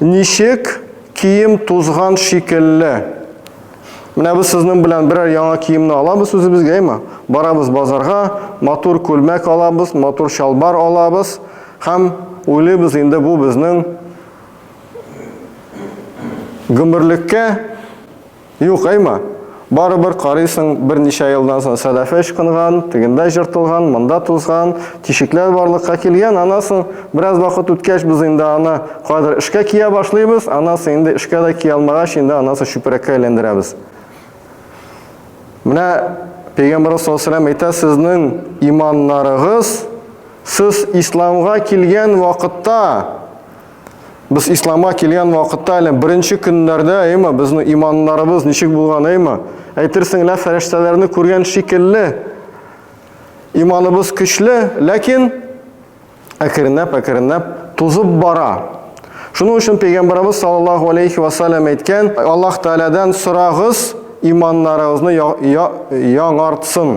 Ничек кием тузган шикелле? Менә без сезнең белән берәр яңа киемне алабыз үзебезгә, әйме? Барабыз базарга, матур күлмәк алабыз, матур чалбар алабыз һәм уйлыйбыз инде бу безнең гомерлеккә, Юк, Эйма, барыбер карыйсың, берничә елдан соң сәләфе ычкынган, тегендә җыртылган, монда тузган, тишекләр барлыкка килгән, аннан соң, бераз вакыт үткәч, без инде аны кайдыр эшкә кия башлыйбыз, аннан соң инде эшкә дә кия алмагач, инде аннан соң чүпрәккә әйләндерәбез. Менә Пәйгамбәрбез саллаллаһу алейһи ва әйтә, сезнең иманнарыгыз сез исламга килгән вакытта Без ислама килгән вакытта әле беренче көннәрдә, әйме, безнең иманнарыбыз ничек булган, әйме? Әйтерсең лә фәрештәләрне күргән шикелле. Иманыбыз көчле, ләкин әкренләп, әкренләп тузып бара. Шуның өчен пәйгамбәрбез саллаллаһу алейхи ва саллям әйткән, Аллаһ Тәгаләдән сорагыз, иманнарыгызны яңартсын.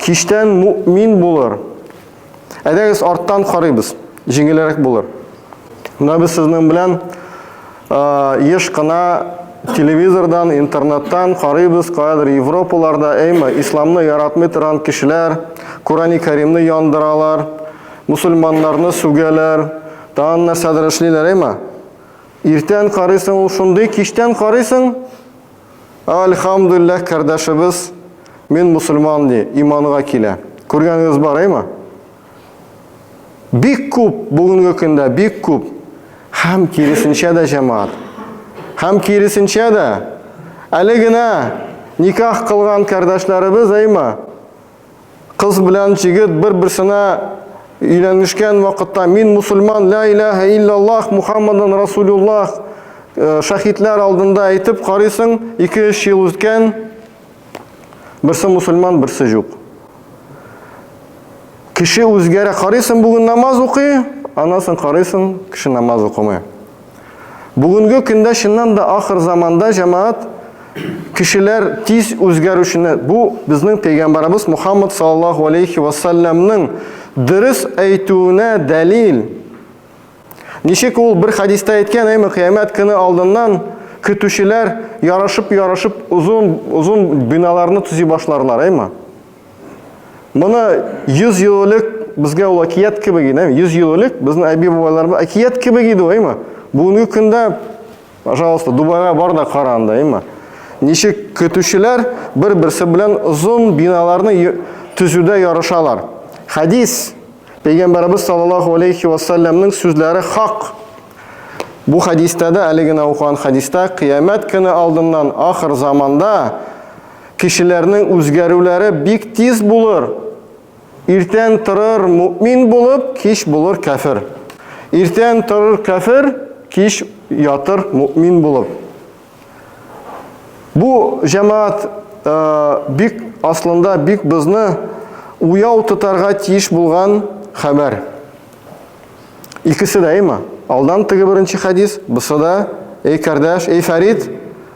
Киштән мөмин булыр. Әйдәгез арттан карыйбыз. Җиңелрәк булыр. Менә без сезнең белән еш кына телевизордан, интернеттан карыйбыз, каядыр Европаларда, әйме, исламны яратмый торган кешеләр Корани Кәримне яндыралар, мусульманнарны сүгәләр, тагын нәрсәдер эшлиләр, әйме? Иртән карыйсың, ул шундый, киштән карыйсың, Альхамдулләһ кардәшебез мин мусульман ди, иманга килә. Күргәнегез бар, әйме? Бик күп бүгенге көндә бик күп һәм киресенчә дә җәмаат. Һәм киресенчә дә әле генә никах кылган кардәшләребез, әйме? Кыз белән җигет бер-берсенә өйләнешкән вакытта мин мусульман, ла илаһа иллаллах, Мухаммадан Расулуллах э, шәһидләр алдында әйтеп карыйсың, 2-3 ел үткән, берсе мусульман, берсе юк. Кеше үзгәрә, карыйсың бүген намаз укый, анасын карыйсың, кеше намаз укымый. Бүгенге көндә чыннан да ахыр заманда җәмәгать кешеләр тиз үзгәрүчене бу безнең пәйгамбарыбыз Мухаммад саллаллаху алейхи ва саллямның дөрес әйтүенә дәлил. Ничек ул бер хадиста әйткән, әйме кыямәт көне алдыннан көтүчеләр ярашып-ярашып озын озын биналарны төзи башларлар, әйме? Моны 100 ел элек безгә ул әкият кебек иде, 100 ел элек безнең әби-бабайларыбыз әкият кебек иде ул, әйме? Бүгенге көндә, пожалуйста, Дубайга бар да кара анда, әйме? Ничек көтүчеләр бер-берсе белән озын биналарны төзүдә ярышалар. Хәдис Пәйгамбәрбез саллаллаху алейхи ва саллямның сүзләре хак. Бу хәдистә дә әле генә укыган хәдистә кыямәт көне алдыннан ахыр заманда Кешеләрнең үзгәрүләре бик тиз булыр. Иртән торыр мөмин булып, кич булыр кәфер. Иртән торыр кәфер, кич ятыр мөмин булып. Бу җәмаат э, бик аслында бик безне уяу тотарга тиеш булган хәбәр. Икесе дә имма. Алдан теге беренче хәдис, бусы да, эй кардәш, эй Фәрид,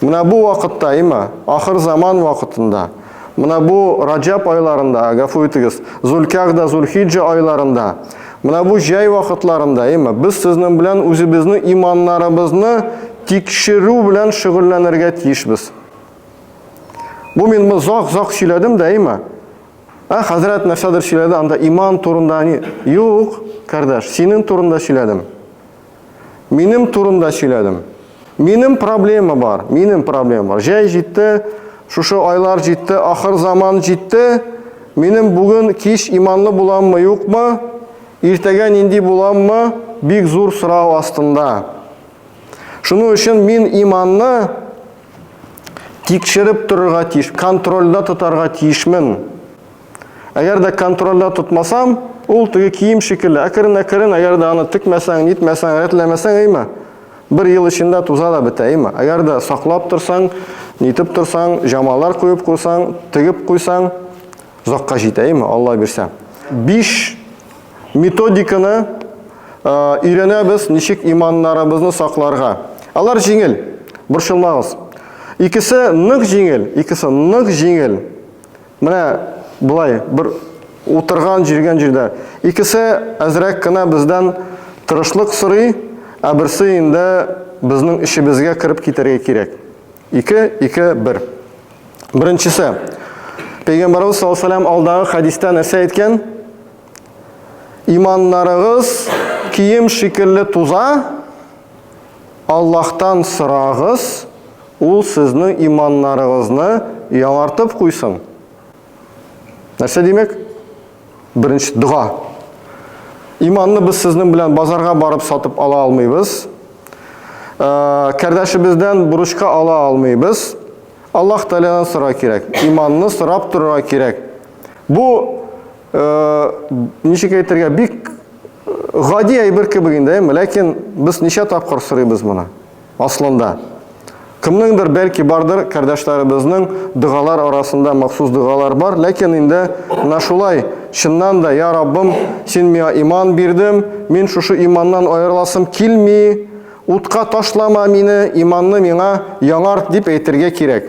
Менә бу вакытта, има, ахыр заман вакытында, менә бу Раҗаб айларында, гафу итегез, Зулькагда, Зулхиҗа айларында, менә бу җәй вакытларында, има, без сезнең белән үзебезне иманнарыбызны тикшерү белән шөгыльләнергә тиешбез. Бу мин бу зак-зак сөйләдем дә, има. Ә хәзрәт нәрсәдер сөйләде, анда иман турында, юк, кардәш, синең турында сөйләдем. Минем турында сөйләдем. Минем проблема бар, минем проблема бар. Җәй җитте, шушы айлар җитте, ахыр заман җитте. Минем бүген кич иманлы буламмы, юкмы? Иртәгә нинди буламмы? Бик зур сорау астында. Шуның өчен мин иманны тикшереп торырга тиеш, контрольда тотарга тиешмен. Әгәр дә контрольдә тотмасам, ул теге кием шикелле, әкрен-әкрен, әгәр дә аны текмәсәң, нитмәсәң, рәтләмәсәң, әйме, бер ел эчендә туза да бетә, әйме. Әгәр дә саклап торсаң, нитеп торсаң, җамалар куеп куйсаң, тегеп куйсаң, озакка җитә, әйме, Алла бирсә. Биш методиканы өйрәнәбез, ничек иманнарыбызны сакларга. Алар җиңел, борчылмагыз. Икесе нык җиңел, икесе нык җиңел. Менә болай, бер утырган, җиргән җирдә. Икесе әзрәк кенә бездән тырышлык сорый, ә берсе инде безнең эчебезгә кереп китәргә кирәк. Ике, ике, бер. Беренчесе. Пәйгамбарыбыз саллаллаһу алейһи ва сәлләм алдагы хәдистә нәрсә әйткән? Иманнарыгыз кием шикелле туза, Аллаһтан сорагыз, Ул сезнең иманнарыгызны яңартып куйсын. Нәрсә димәк? Беренче дога. Иманны без сезнең белән базарга барып сатып ала алмыйбыз. Э, кәрдәшебездән бурычка ала алмыйбыз. Аллаһ Тәгаләдән сорарга кирәк. Иманны сорап торырга кирәк. Бу ничек әйтергә, бик гади әйбер кебек инде, әйме? Ләкин без ничә тапкыр сорыйбыз моны? Аслында. Кемнеңдер бәлки бардыр, кардәшләребезнең дәгалар арасында махсус дәгалар бар, ләкин инде менә шулай, чыннан да, я Раббым, син миңа иман бирдем, мин шушы иманнан аерыласым килми, утка ташлама мине, иманны миңа яңарт дип әйтергә кирәк.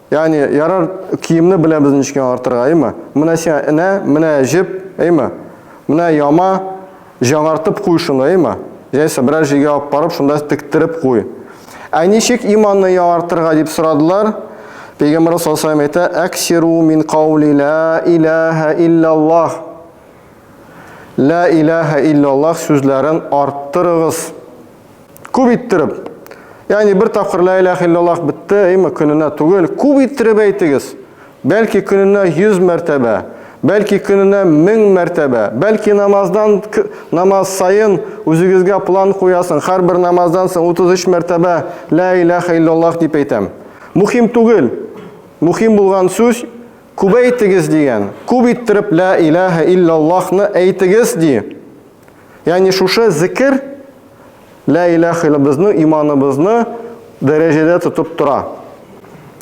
Ягъни ярар киемне беләбез ничек артырга, әйме? Менә сиңа энә, менә җеп, әйме? Менә яма, җаңартып куй шуны, әйме? Җәйсә берәр җиргә алып барып, шунда тектереп куй. Ә ничек иманны яңартырга дип сорадылар? Пәйгамбәр саллаллаху алейһи әйтә: "Аксиру мин каули ла илаха илляллах". Ла илаха илляллах сүзләрен арттырыгыз. Күп иттереп. Ягъни бер тапкыр ла илаһ иллаллаһ бетте, әйме көненә түгел, күп иттереп әйтегез. Бәлки көненә 100 мәртәбә, бәлки көненә 1000 мәртәбә, бәлки намаздан намаз саен үзегезгә план куясың, һәрбер намаздан соң 33 мәртәбә ла илаһ иллаллаһ дип әйтәм. Мухим түгел. Мухим булган сүз күбәйтегез дигән. Күп иттереп ла илаһ иллаллаһны әйтегез ди. Ягъни шушы зикер Лә иләһ илля безнең иманыбызны дәрәҗәдә тотып тора.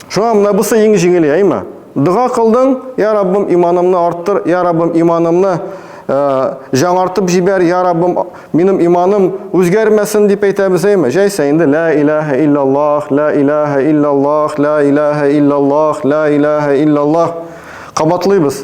Шуңа менә бусы иң җиңеле, әйме? Дога кылдың, я Раббым, иманымны арттыр, я Раббым, иманымны э, жаңартып җибәр, я Раббым, минем иманым үзгәрмәсен дип әйтәбез, әйме? Җәйсә инде лә иләһә иллаллаһ, лә иләһә иллаллаһ, лә иләһә иллаллаһ, лә иләһә иллаллаһ кабатлыйбыз.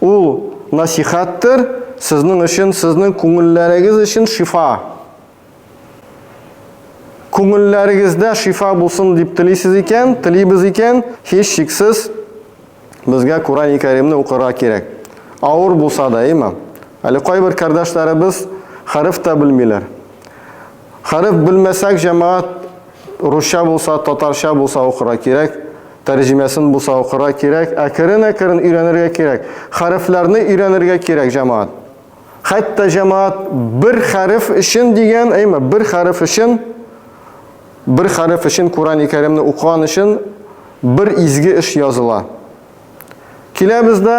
Ул насихәттер сезнең өчен, сезнең күңелләрегез өчен шифа. Күңелләрегездә шифа булсын дип телисез икән, телибез икән, һич шиксез безгә Курани Кәримне укырга кирәк. Авыр булса да, әйме? Әле кайбер кардәшләребез хәреф тә белмиләр. Хәреф белмәсәк, җәмәгать, русча булса, татарча булса укырга кирәк, тәрҗемәсен булса укырга кирәк, әкрен-әкрен өйрәнергә кирәк. Хәрефләрне өйрәнергә кирәк, җәмәгать. Хәтта җәмәгать бер хәреф өчен дигән, әйме, бер хәреф өчен бер хәреф өчен Курани Кәримне укыган өчен бер изге эш языла. Киләбез дә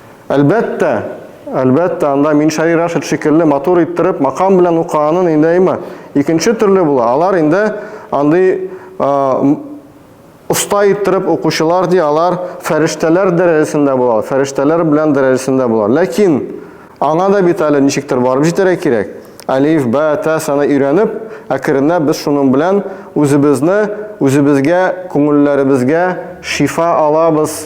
Әлбәттә, әлбәттә, анда Миншаи Рашид шикелле матур иттереп макам белән укыганын инде әйма. Икенче төрле була. Алар инде андый оста иттереп укучылар ди, алар фәрештәләр дәрәҗәсендә булалар, фәрештәләр белән дәрәҗәсендә булалар. Ләкин аңа да бит әле ничектер барып җитәргә кирәк. Алиф, бә, тә саны өйрәнеп, әкренләп без шуның белән үзебезне, үзебезгә, күңелләребезгә шифа алабыз.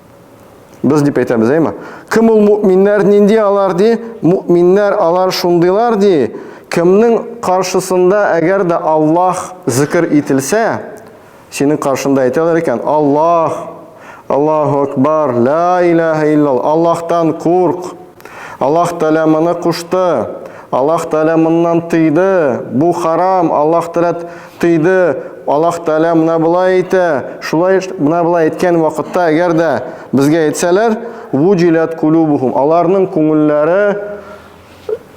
Без дип әйтәбез, әйме? Кем ул мөминнәр, нинди алар ди? Мөминнәр алар шундыйлар ди, кемнең каршысында әгәр дә Аллаһ зикр ителсә, синең каршында әйтәләр икән, Аллаһ, Аллаһу акбар, ла илаһа иллал, Аллаһтан курк. Аллаһ Тәгалә моны кушты. Аллаһ Тәгалә моннан тыйды. Бу харам. Аллаһ Тәгалә тыйды. Аллаһ Тәгалә менә болай әйтә. Шулай менә болай әйткән вакытта, әгәр дә безгә әйтсәләр, вуҗилат кулубухум. Аларның күңелләре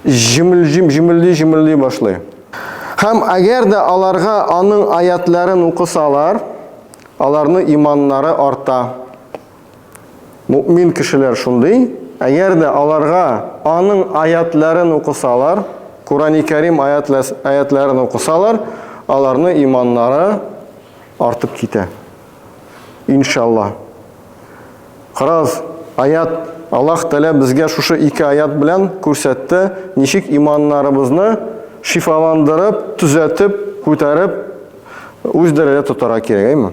җимелҗим җимелди җимелди башлый. Һәм әгәр дә аларга аның аятларын укысалар, аларның иманнары арта. Мөэмин кешеләр шундый, әгәр дә аларга Аның аятьләрен укысалар, Курани Кәрим аятьләрен укысалар, аларны иманнары артып китә. Иншалла. Карагыз, аят Аллаһ Тәгалә безгә шушы ике аят белән күрсәтте, ничек иманнарыбызны шифаландырып, төзәтеп, күтәреп, үз дәрәҗә тотара кирәк, әйме?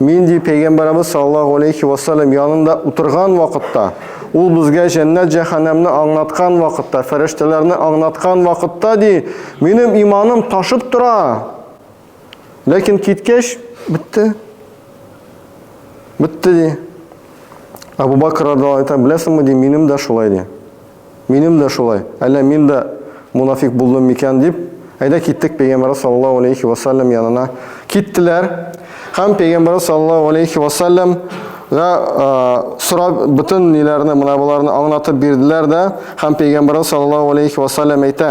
Мин, ди Пәйгамбәребез саллаллаһу алейхи ва саллям янында утырган вакытта, ул безгә җәннәт-җәһәннәмне аңлаткан вакытта, фәрештәләрне аңлаткан вакытта, ди, минем иманым ташып тора. Ләкин киткәч, бетте. Бетте, ди. Абу Бакр радиллаһу анһу әйтә, беләсеңме, ди, минем дә шулай, ди. Минем дә шулай, әллә мин дә монафикъ булдым микән дип, Әйдә киттек Пәйгамбәрбез саллаллаһу галәйһи ва сәлләм янына. Киттеләр һәм Пәйгамбәрбез саллаллаһу галәйһи ва сәлләм га сорап бөтен ниләрне, мөнаваларны аңлатып бирделәр дә, һәм Пәйгамбәрбез саллаллаһу галәйһи ва сәлләм әйтә.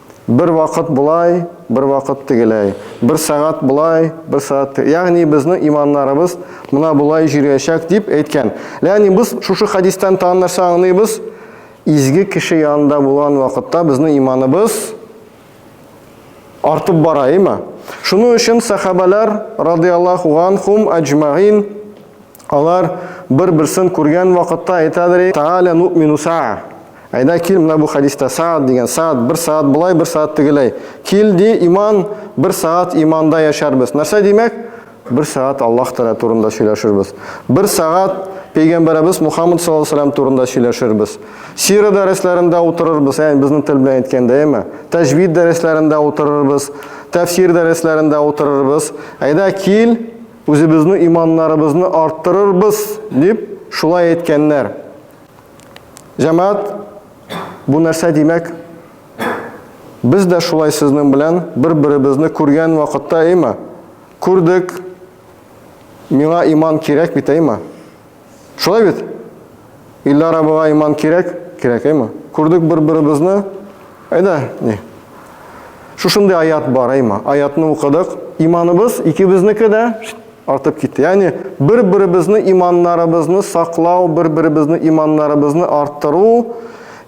Бер вакыт болай, бер вакыт тегеләй. Бер сәгать болай, бер сәгать тегеләй. Ягъни безнең иманнарыбыз мына болай җириячәк дип әйткән. Ягъни без шушы хәдистән тагын нәрсә аңлыйбыз? Изге кеше янында булган вакытта безнең иманыбыз артып бара, әйме? Шуның өчен сәхабәләр радиаллаху анхум аҗмаин алар бер-берсен күргән вакытта әйтәдер, тааля ну'мину саа. Әйдә кил менә бу хәдистә саат дигән саат, бер саат болай, бер саат тегеләй. Кил ди, иман, бер саат иманда яшәрбез. Нәрсә димәк? Бер саат Аллаһ Тәгалә турында сөйләшербез. Бер саат пәйгамбәребез Мухаммад саллаллаху алейһи турында сөйләшербез. Сира дәресләрендә утырырбыз, ягъни безнең тел белән әйткәндә, әйме? Тәҗвид дәресләрендә утырырбыз, тәфсир дәресләрендә утырырбыз. Әйдә кил, үзебезнең иманнарыбызны арттырырбыз, дип шулай әйткәннәр. Җәмәгать, бу нәрсә димәк? Без дә шулай сезнең белән бер-беребезне күргән вакытта, әйме? Күрдек. Миңа иман кирәк бит, әйме? Шулай бит? Иллар абыга иман кирәк, кирәк, әйме? Күрдек бер-беребезне, Әйдә, ни? Шушындый аят бар, әйма. Аятны укыдык. Иманыбыз икебезнеке дә артып китте. Ягъни бер-беребезне иманнарыбызны саклау, бер-беребезне иманнарыбызны арттыру,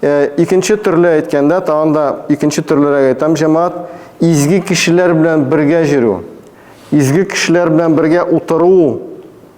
э, икенче төрле әйткәндә, тагын да икенче төрлерәк әйтәм, җәмәгать, изге кешеләр белән бергә йөрү, изге кешеләр белән бергә утыру,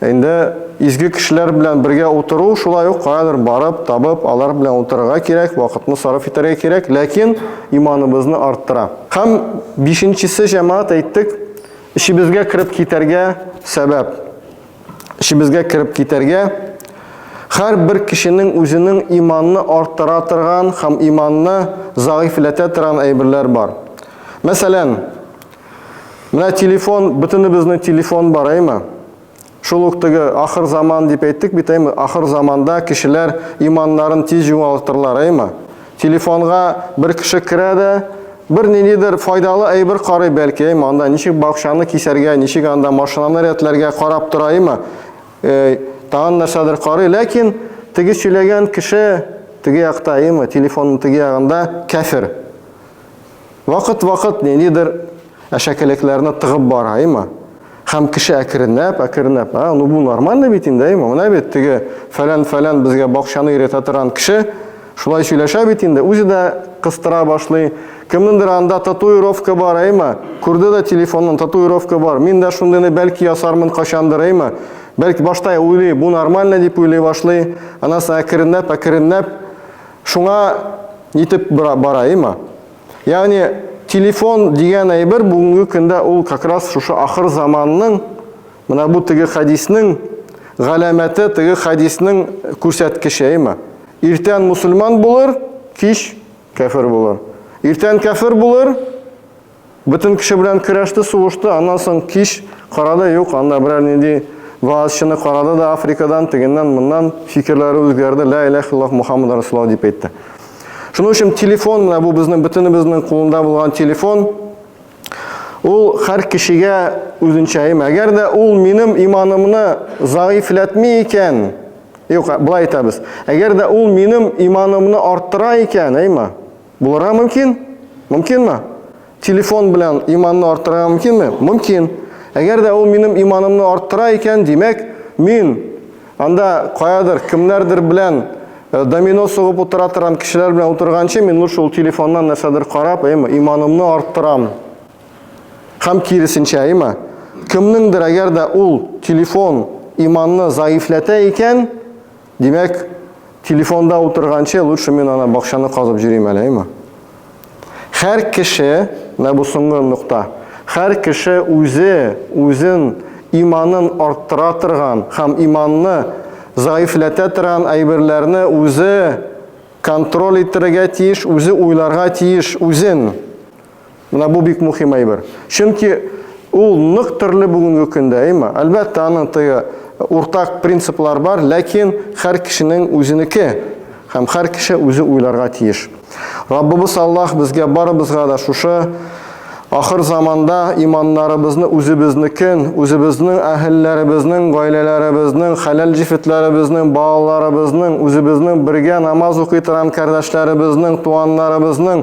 Инде изге кешеләр белән бергә утыру, шулай ук каядыр барып, табып, алар белән утырырга кирәк, вакытны сарыф итәргә кирәк, ләкин иманыбызны арттыра. Һәм бишенчесе җәмәгать әйттек, эчебезгә кереп китәргә сәбәп. Эчебезгә кереп китәргә һәр бер кешенең үзенең иманны арттыра торган һәм иманны зәгыйфьләтә торган әйберләр бар. Мәсәлән, Менә телефон, бөтенебезнең телефон бар, әйме? Шул ук теге ахыр заман дип әйттек бит, әйме? Ахыр заманда кешеләр иманнарын тиз югалтырлар, әйме? Телефонга бер кеше керә дә, бер ниндидер файдалы әйбер карый бәлки, әйме? Анда ничек бакчаны кисәргә, ничек анда машинаны рәтләргә карап тора, әйме? Э, тагын нәрсәдер карый, ләкин теге сөйләгән кеше теге якта, әйме? Телефонның теге ягында кәфир. Вакыт-вакыт ниндидер әшәкелекләрне тыгып бара, әйме? Һәм кеше әкренләп, әкренләп, а, ну бу нормально бит инде, әйме? Менә бит теге фәлән-фәлән безгә бакчаны өйрәтә торган кеше шулай сөйләшә бит инде, үзе дә кыстыра башлый. Кемнеңдер анда татуировка бар, әйме? Күрде дә телефоннан татуировка бар. Мин дә шундыйны бәлки ясармын качандыр, әйме? Бәлки башта уйлый, бу нормально дип уйлый башлый. Анасы әкренләп, әкренләп Шуңа нитеп бара, бара има. Ягъни телефон дигән әйбер бүгенге көндә ул как раз шушы ахыр заманның менә бу теге хәдиснең галәмәте, теге хәдиснең күрсәткече има. Иртән мусульман булыр, кич кәфер булыр. Иртән кәфер булыр, Бөтен көче белән көрәште, сугышты, аннан соң кич карады, юк, анда берәр нинди вәгазьчыны карады да Африкадан, тегеннән, моннан фикерләре үзгәрде, лә иләһ иллаллаһ Мухаммад Расулаллаһ дип әйтте. Шуның өчен телефон, менә бу безнең бөтенебезнең кулында булган телефон, ул һәр кешегә үзенчә им. Әгәр дә ул минем иманымны заифләтми икән, юк, былай әйтәбез, әгәр дә ул минем иманымны арттыра икән, әйма, Булырга мөмкин? Мөмкинме? Телефон белән иманны арттырырга мөмкинме? Мөмкин. Әгәр дә ул минем иманымны арттыра икән, димәк, мин анда каядыр, кемнәрдер белән э, домино сугып утыра торган кешеләр белән утырганчы, мин лучше ул телефоннан нәрсәдер карап, әйме, иманымны арттырам. Һәм киресенчә, әйме, кемнеңдер әгәр дә ул телефон иманны заифләтә икән, Димәк, телефонда утырганчы лучше мин ана бакчаны казып җөрим әле, әйме? Хәр кеше, менә бу соңгы нокта, хәр кеше үзе үзен иманын арттыра торган һәм иманны заифләтә торган әйберләрне үзе контроль иттерергә тиеш, үзе уйларга тиеш үзен. Менә бу бик мөһим әйбер. Чөнки ул нык төрле бүгенге көндә, әйме? Әлбәттә, аның тыгы э, уртак принциплар бар, ләкин һәр кешенең үзенеке һәм һәр кеше үзе уйларга тиеш. Раббыбыз Аллаһ безгә барыбызга да шушы ахыр заманда иманнарыбызны үзебезнекен, үзебезнең әһелләребезнең, гаиләләребезнең, хәләл җифетләребезнең, балаларыбызның, үзебезнең бергә намаз укый торган кардәшләребезнең, туганнарыбызның